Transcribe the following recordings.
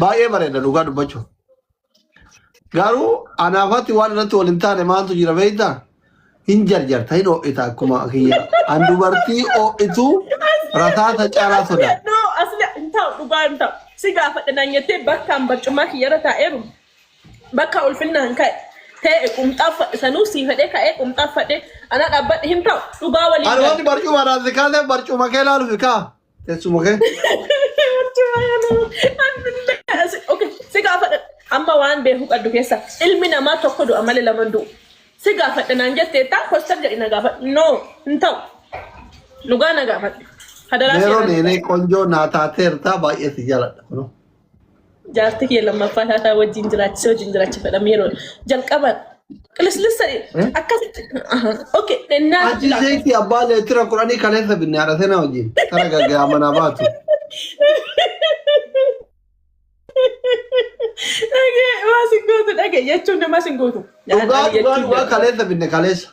Baay'ee bareeda dhugaa dubbachuuf. Garuu anaafatti waan irratti wal hin taane maaltu jira beektaa? Hin jarjarta hin ho'ita akkuma kiyya. An dubartii ho'itu rasaasa caalaa sodaata. No, asli hin ta'u dhugaa hin ta'u. Si gaafadha naan jettee bakkaan barcumaa kiyyarra taa'eeru. Bakka ulfinnaan ka'e tee'e qumxaa uffadhe sanuu sii fedhee ka'ee qumxaa uffadhe anaa dhaabbadhe hin ta'u dhugaa waliin Ani wanti barcuma irraa si kaasee barcuma kee ilaaluuf kaa teessuma kee. Okay, si gaafadha. Amma waan beeku qabdu keessa ilmi namaa tokko du'a malee lama hin du'u. Si gaafadha naan jettee taa kostar jedhi na gaafadha. No, hin ta'u. Dhugaa na gaafadha. Hadaraa Meeroon seeraan. eenee qonjoo naa taateertaa baay'ee si jaaladha. kunoo. Jaartii kee lammaffaa taataa wajjin jiraachisee wajjin jiraachifadha yeroo jalqaba qilisqilissa akkasitti okay ennaa Ati zaiti abbaa leetira kudhanii kaleessa binne haadha seenaa wajjin. Tara gaggaa manaa baatu. Dhagee waa sin gootu dhagee jechuun namaa sin gootu. Dhugaa dhugaa dhugaa kaleessa binne kaleessa.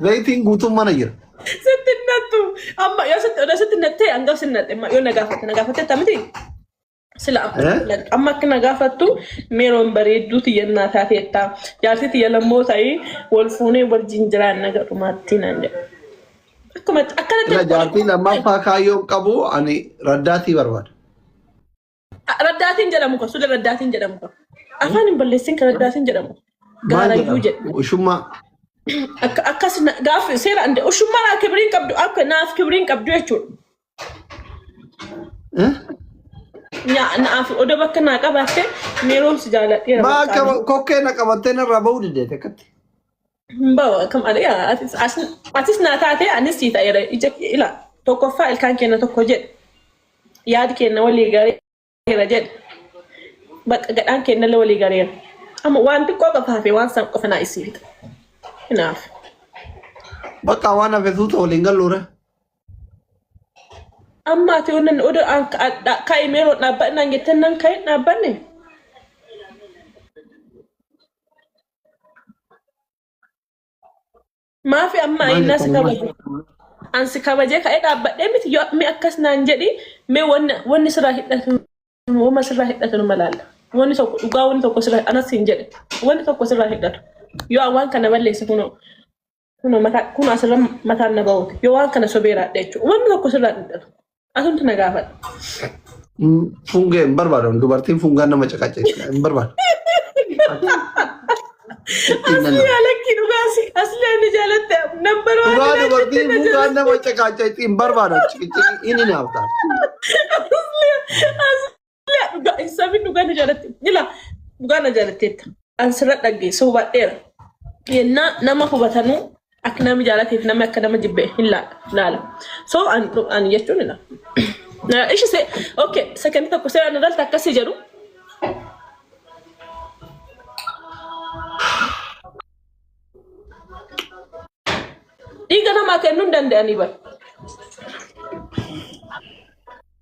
Zayitiin guutuun mana jira. Sitti nattu. Amma yoo sitti odoo sitti nattee hanga sin natte yoo na gaafatte na gaafatte tamiti. Sila Eh? amma akka na gaafattu meeroon bareedduu tiyyannaa taateetta. Jaartii tiyya lammoo ta'ii wal fuunee wal jinjiraan naga dhumaattii naan jedha. Akkumatti akkanatti Sila jaartii lammaffaa kaayyoo hin qabu ani raddaatii barbaada. Raddaatiin jedhamu kan sule raddaatiin jedhamu kan. Afaan hin balleessin kan raddaatiin jedhamu. Maal Gaarayyuu jedha. jedhama? Ushummaa. Akka- Akkas na- gaaf seera ande ushummaa naa kibiriin qabdu akka naaf kibiriin qabdu jechuudha. Eh? Nyaa- Naaf odoo bakka naa qabaatte miiroon si jaaladheera. Maa bakka akka ani. kokkee na qabattee narraa bahuu diddeete akkatti. Hin bahu akka malee yaa, atis as- atis naa taate anis sii ta'eera ija kee ila tokkoffaa ilkaan keenya tokko jedhe yaadi keenya walii gareera jedhe bakka gadhaan keenya illee walii gareera. Amma waan xiqqoo qofa hafe waan san qofa naa isii fita. Kanaaf Bakka waan hafe suuta waliin galluure. amma ati waan inni oduu aan kaa'e meeroo dhaabbannaan jettan nan kaa'e dhaabbanne. Maafi amma Maal ayinnaa si jettanii maal kabaje? jettanii? An si kabajee ka'ee dhaabbadhee miti yoo mi akkas naan jedhi mee wanni wanni sirraa hidhatu wama sirraa hidhatu nama laalla. Wanni tokko dhugaa wanni tokko sirraa anas siin jedhe wanni tokko sirraa hidhatu yoo an waan kana balleesse kunoo Kunoo mataa kunoo asirra mataan na ba'uuti. Yoo waan kana sobeeraadha jechuudha. Wanni tokko sirraa dhidhama. Asumti na gaafadha. Fungee hin barbaadu. Dubartiin fungaan nama caqacaqeessu hin barbaadu. Asli jaalakki dhugaasi. Asli ani jaalatte nambar waan Dhugaa ilaalchatte dubartiin na fungaan jaalatti. nama caqacaqeessu hin barbaadu. Inni naaf ta'a. Asli Ilaa dhugaa isaa fi dhugaa na jaalatte. Ilaa dhugaa na jaalatteetta. An sirra dhaggeessa hubadheera. Yennaa nama hubatanuu akka nama jaalateef namni akka nama jibbe hin laala. laala. So an an jechuun ila. Ishi se okay sekendi tokko seeraan irratti akkasii jedhu. Dhiiga namaa kennuu hin danda'anii bara.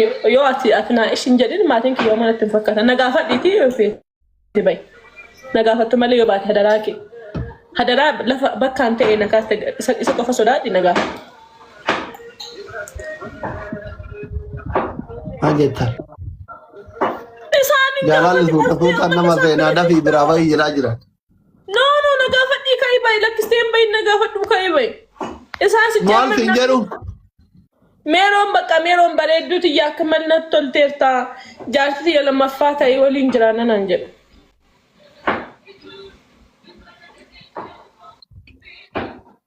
Yoo yoo ati ati naa ishin jedhin maatiin kiyya homaa natti hin fakkaatan. Na gaafadhiitii yoo feete bayi. Na gaafattu malee yoo baate hadaraa kee. Hadaraa lafa bakkaan ta'e na kaaste isa isa qofa sodaadhi na gaafadhu. Maal jettan? Isaan hin Jaalalli gaafatu suuta suutaan nama seenaa dafii biraa bahii jedhaa jira. No, no, na gaafadhii ka'ii ba'i. Lakkistee hin ba'iin na gaafadhuu ka'ii ba'i. Isaan si Maal siin jedhu? Meeroon bakka meeroon bareedduu tiyya akka mal natti tolteerta. Jaarsi tiyya lammaffaa ta'e waliin jiraanna naan jedhu.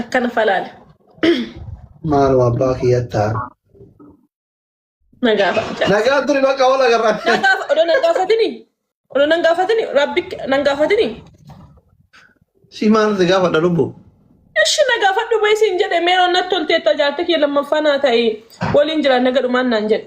Akkana falaale. Maaloo abbaa kiyyattaa. Nagaa fa'a. Nagaa turi bakka oola garra. Nagaa odoo nan gaafatini. Odoo nan gaafatini rabbi nan gaafatini. Si maal si gaafadha lubbu? Ishi na gaafadhu bee siin jedhe meeroon natti tolteetta jaartii kee lammaffaa naa ta'e waliin jira naga dhumaan naan jedhe.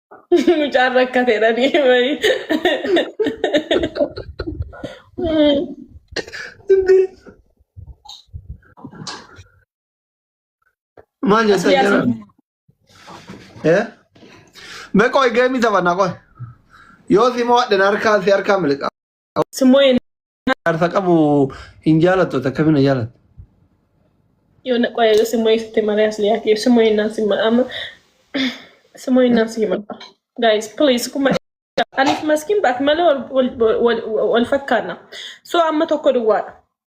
Mucaan rakkateera ni wayii. Maal jettan Asliyaa jara? si- Eh? Mee qoy geemii taphanna qoy. Yoo si mo'adhe na harkaa si harkaa miliqa. Simmoo jaarsa qabu hin jaalattu takka bina jaalatta. Yoo na qoya yoo simmoo ibsite malee as liyaati yoo simmoo innaan simma amma simmoo innaan si himadha. Guys please kuma Alif maskin baat malee wal- wal- wal- wal fakkaanna. So amma tokko duwwaadha.